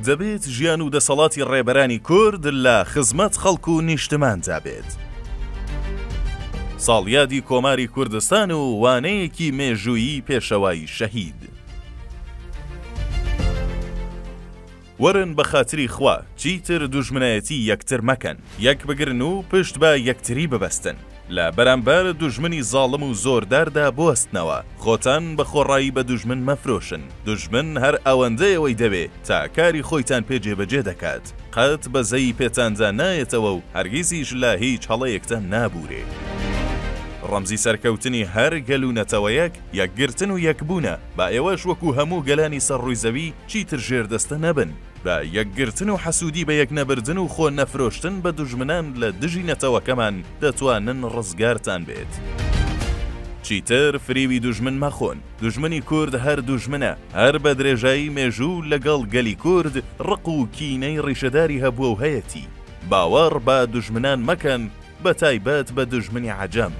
دەبێت ژیان و دەسەڵاتی ڕێبەرانی کورد لە خزمەت خەڵک و نیشتماندا بێت. ساڵیادی کۆماری کوردستان و وانەیەکی مێژوویی پێشەوای شەهید. وەرن بەخاتری خوا چیتر دوژمنایەتی یەکتر مەکەن، یەک بگرن و پشت بە یەکتری ببەستن، لە بەرامبەر دوژمنی زاڵم و زۆرداردا بوەستنەوە، خۆتان بە خۆڕایی بە دوژمن مەفرۆشن، دوژمن هەر ئەوەندە ئێوەی دەوێ تا کاری خۆیتان پێ جێبەجێ دەکات، قەت بەزەیی پێتاندا نایەتەوە و هەرگیزیش لە هیچ هەڵەیەکتان نابورێ. ڕەمزی سەرکەوتنی هەر گەل و نەتەوەیەک یەکگرتن و یەکبوونە، با ئێوەش وەکو هەموو گەلانی سەر ڕووی زەوی چیتر ژێردەستە نەبن بە یەکگرتن و حەسوودی بەیەک نەبردن و خۆ نەفرۆشتن بە دوژمنان لە دژی نەتەوەکەمان دەتوانن ڕزگارتان بێت چیتر فریوی دوژمن مەخۆن دوژمنی کورد هەر دوژمنە هەر بە درێژایی مێژوو لەگەڵ گەلی کورد ڕق و کینەی ڕیشەداری هەبووە و هەیەتی باوەڕ بە دوژمنان مەکەن بە تایبەت بە دوژمنی عەجەم.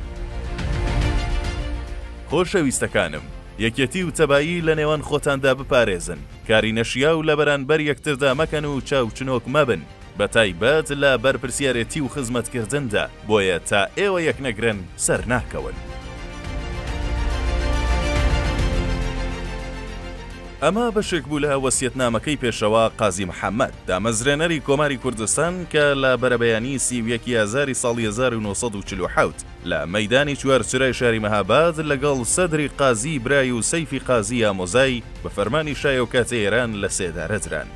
خۆشەویستەکانم، یەکێتی و تەبایی لە نێوان خۆتاندا بپارێزن، کاری نەشیاو لە بەرانبەر یەکتردا مەکەن و چاوچنۆک مەبن، بە تایبەت لە بەرپرسیارێتی و خزمەتکردندا، بۆیە تا ئێوە یەکنەگرن سەرناکەون. ئەمە بەشێک بوو لە وەسیەتنامەکەی پێشەوا قازی محەممەد، دامەزرێنەری کۆماری کوردستان کە لە بەرەبەیانیی سی و یەک ی ئازاری ساڵی هەزار و نۆ سەد و چل و حەوت لە مەیدانی چوارچرای شاری مەهاباد لەگەڵ سەدری قازی برای و سەیفی قازی ئامۆزای بە فەرمانی شای ئەوکاتی ئێران لە سێدارە دران.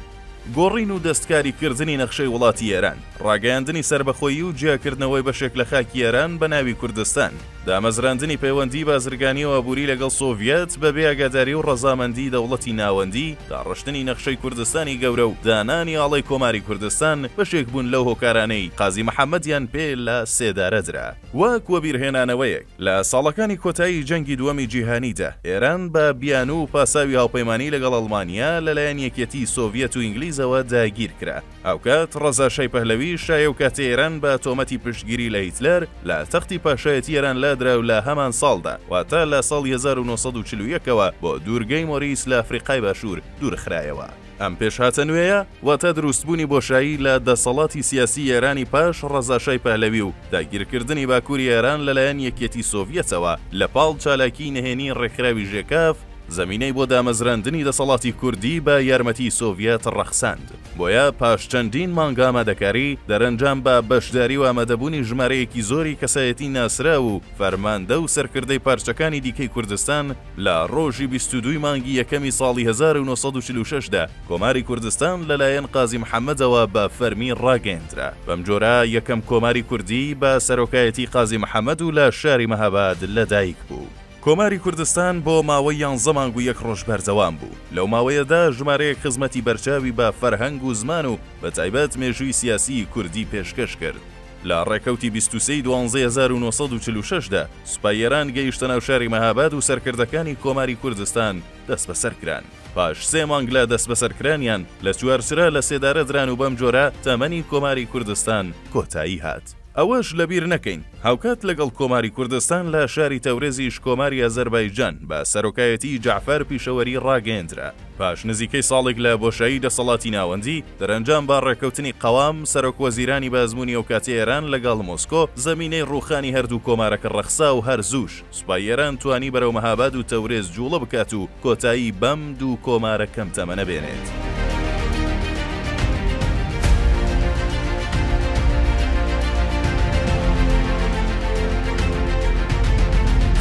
گۆڕین و دەستکاریکردنی نەخشەی وڵاتی ئێران، ڕاگەیاندنی سەربەخۆیی و جیاکردنەوەی بەشێک لە خاکی ئێران بە ناوی کوردستان، دامەزراندنی پەیوەندیی بازرگانی و ئابووری لەگەڵ سۆڤیەت بەبێ ئاگاداری و ڕەزامەندیی دەوڵەتی ناوەندی، داڕشتنی نەخشەی کوردستانی گەورە و دانانی ئاڵای کۆماری کوردستان، بەشێک بوون لەو هۆکارانەی قازی محەممەدیان پێ لە سێدارە درا. وەک وەبیرهێنانەوەیەک، لە ساڵەکانی کۆتایی جەنگی دووەمی جیهانیدا، ئێران بە بیانوو و پاساوی هاوپەیمانیی لەگەڵ ئەڵمانیا، لەلایەن یەکیەتیی سۆڤیەت و ئینگلیزەوە داگیر کرا. هاوکات، ڕەزا شای پەهلەوی، شای ئەو کاتی ئێران بە تۆمەتی پشتگیری لە هیتلەر، لە تەختی پاشایەتیی ئێران لادرا و لە هەمان ساڵدا، واتە لە ساڵی هەزار و نۆ سەد و چل و یەک ەوە، بۆ دوورگەی مۆریس لە ئەفریقای باشوور دوورخرایەوە. ئەم پێشهاتە نوێیە واتە دروستبوونی بۆشایی لە دەسەڵاتی سیاسی ئێرانی پاش ڕەزاشای پەهلەوی و داگیرکردنی باکووری ئێران لەلایەن یەکیەتی سۆڤیەتەوە لە پاڵ چالاکیی نهێنیی ڕێکخراوی ژێکاف زەمینەی بۆ دامەزراندنی دەسەڵاتی کوردی بە یارمەتیی سۆڤیەت ڕەخساند. بۆیە پاش چەندین مانگ ئامادەکاری، دەرەنجام بە بەشداری و ئامادەبوونی ژمارەیەکی زۆری کەسایەتی ناسراو و فەرماندە و سەرکردەی پارچەکانی دیکەی کوردستان، لە ڕۆژی بیست و دووی مانگی یەکەمی ساڵی هەزار و نۆ سەد و چل و شەش دا، کۆماری کوردستان لەلایەن قازی محەممەدەوە بە فەرمی ڕاگەیەندرا. بەمجۆرە یەکەم کۆماری کوردی بە سەرۆکایەتی قازی محەممەد و لە شاری مەهاباد لەدایک بوو. کۆماری کوردستان بۆ ماوەی یانزە مانگ و یەک ڕۆژ بەردەوام بوو. لەو ماوەیەدا ژمارەیەک خزمەتی بەرچاوی بە فەرهەنگ و زمان و بە تایبەت مێژووی سیاسیی کوردی پێشکەش کرد. لە ڕێکەوتی بیست و سێ ی دوانزەی هەزار و نۆ سەد و چل و شەش دا، سوپای ئێران گەیشتە ناو شاری مەهاباد و سەرکردەکانی کۆماری کوردستان دەسبەسەر کران. پاش سێ مانگ لە دەسبەسەرکرانیان، لە چوارچرا لە سێدارە دران و بەم جۆرە تەمەنی کۆماری کوردستان کۆتایی هات. ئەوەش لە بیر نەکەین، هاوکات لەگەڵ کۆماری کوردستان لە شاری تەورێزیش کۆماری ئازەربایجان بە سەرۆکایەتیی جەعفەر پیشەوەری ڕاگەیەندرا. پاش نزیکەی ساڵێک لە بۆشایی دەسەڵاتی ناوەندی، دەرەنجام بە ڕێککەوتنی قەوام، سەرۆک وەزیرانی بە ئەزموونی ئەوکاتی ئێران لەگەڵ مۆسکۆ، زەمینەی ڕووخانی هەردوو کۆمارەکە ڕەخسا و هەر زووش سوپای ئێران توانی بەرەو مەهاباد و تەورێز جووڵە بکات و کۆتایی بەم دوو کۆمارە کەم تەمەنە بێنێت.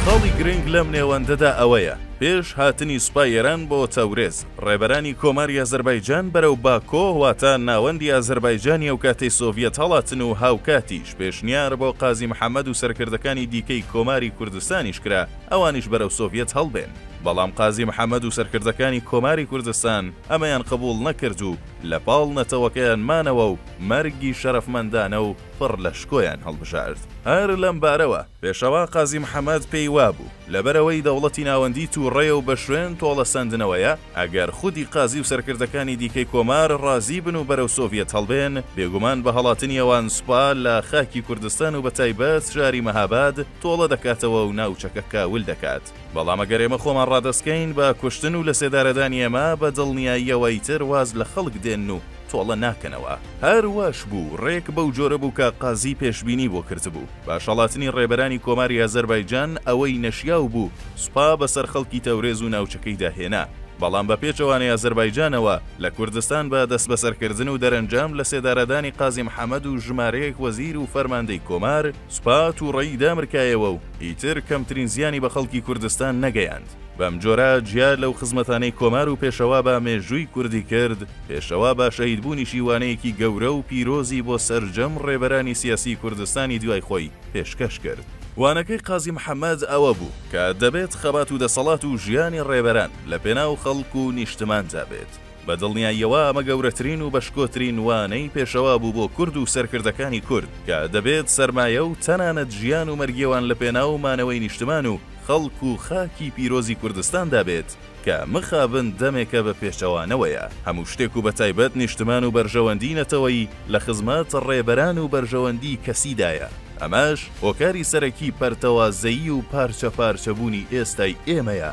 خاڵی گرنگ لەم نێوەندەدا ئەوەیە، پێش هاتنی سوپای ئێران بۆ تەورێز، ڕێبەرانی کۆماری ئازەربایجان بەرەو باکۆ واتە ناوەندی ئازەربایجانی ئەوکاتەی سۆڤیەت هەڵاتن و هاوکاتیش پێشنیار بۆ قازی محەمەد و سەرکردەکانی دیکەی کۆماری کوردستانیش کرا ئەوانیش بەرەو سۆڤیەت هەڵبێن بەڵام قازی محەمەد و سەرکردەکانی کۆماری کوردستان ئەمەیان قبوڵ نەکرد و لە پاڵ نەتەوەکەیان مانەوە و مەرگی شەرەفمەندانە و پڕ لە شکۆیان هەڵبژارد هەر لەم بارەوە. پێشەوا قازی محەمەد پێی وابوو، لەبەرئەوەی دەوڵەتی ناوەندی تووڕەیە و بە شوێن تۆڵەسەندنەوەیە، ئەگەر خودی قازی و سەرکردەکانی دیکەی کۆمار ڕازی بن و بەرەو سۆڤیەت هەڵبێن، بێگومان بە هەڵاتنی ئەوان سوپا لە خاکی کوردستان و بەتایبەت شاری مەهاباد تۆڵە دەکاتەوە و ناوچەکە کاول دەکات. بەڵام ئەگەر ئێمە خۆمان ڕادەستکەین بە کوشتن و لەسێدارەدانی ئێمە بە دڵنیاییەوە ئیتر واز لە خەڵک دێنن و تۆڵە ناکەنەوە. هەر واش بوو، ڕێک بەو جۆرە بوو کە قازی پێشبینی بۆ کردبوو. بە شەڵاتنی ڕێبەرانی کۆماری ئازەربایجان ئەوەی نەشیاو بوو، سوپا بەسەر خەڵکی تەورێز و ناوچەکەیدا هێنا. بەڵام بە پێچەوانەی ئازەربایجانەوە، لە کوردستان بە دەستبەسەرکردن و دەرەنجام لەسێدارەدانی قازی محەمەد و ژمارەیەک وەزیر و فەرماندەی کۆمار، سوپا توڕەیی دامرکایەوە و ئیتر کەمترین زیانی بە خەڵکی کوردستان نەگەیاند. بەم جۆرە جیا لەو خزمەتانەی کۆمار و پێشەوا بە مێژووی کوردی کرد، پێشەوا بە شەهیدبوونیشی وانەیەکی گەورە و پیرۆزی بۆ سەرجەم ڕێبەرانی سیاسی کوردستانی دوای خۆی پێشکەش کرد. وانەکەی قازی محەمەد ئەوە بوو کە دەبێت خەبات و دەسەڵات و ژیانی ڕێبەران لە پێناو خەڵک و نیشتماندا بێت. بە دڵنیاییەوە ئەمە گەورەترین و بەشکۆترین وانەی پێشەوا بوو بۆ کورد و سەرکردەکانی کورد کە دەبێت سەرمایە و تەنانەت ژیان و مەرگیێوان لە پێناو مانەوەی نیشتمان و خەڵک و خاکی پیرۆزی کوردستاندا بێت کە مخابن دەمێکە بە پێچەوانەوەیە هەموو شتێک و بەتایبەت نیشتمان و بەرژەوەندی نەتەوەیی لە خزمەت ڕێبەران و بەرژەوەندی کەسیدایە ئەمەش هۆکاری سەرەکی پەرتەوازەیی و پارچە پارچە بوونی ئێستای ئێمەیە.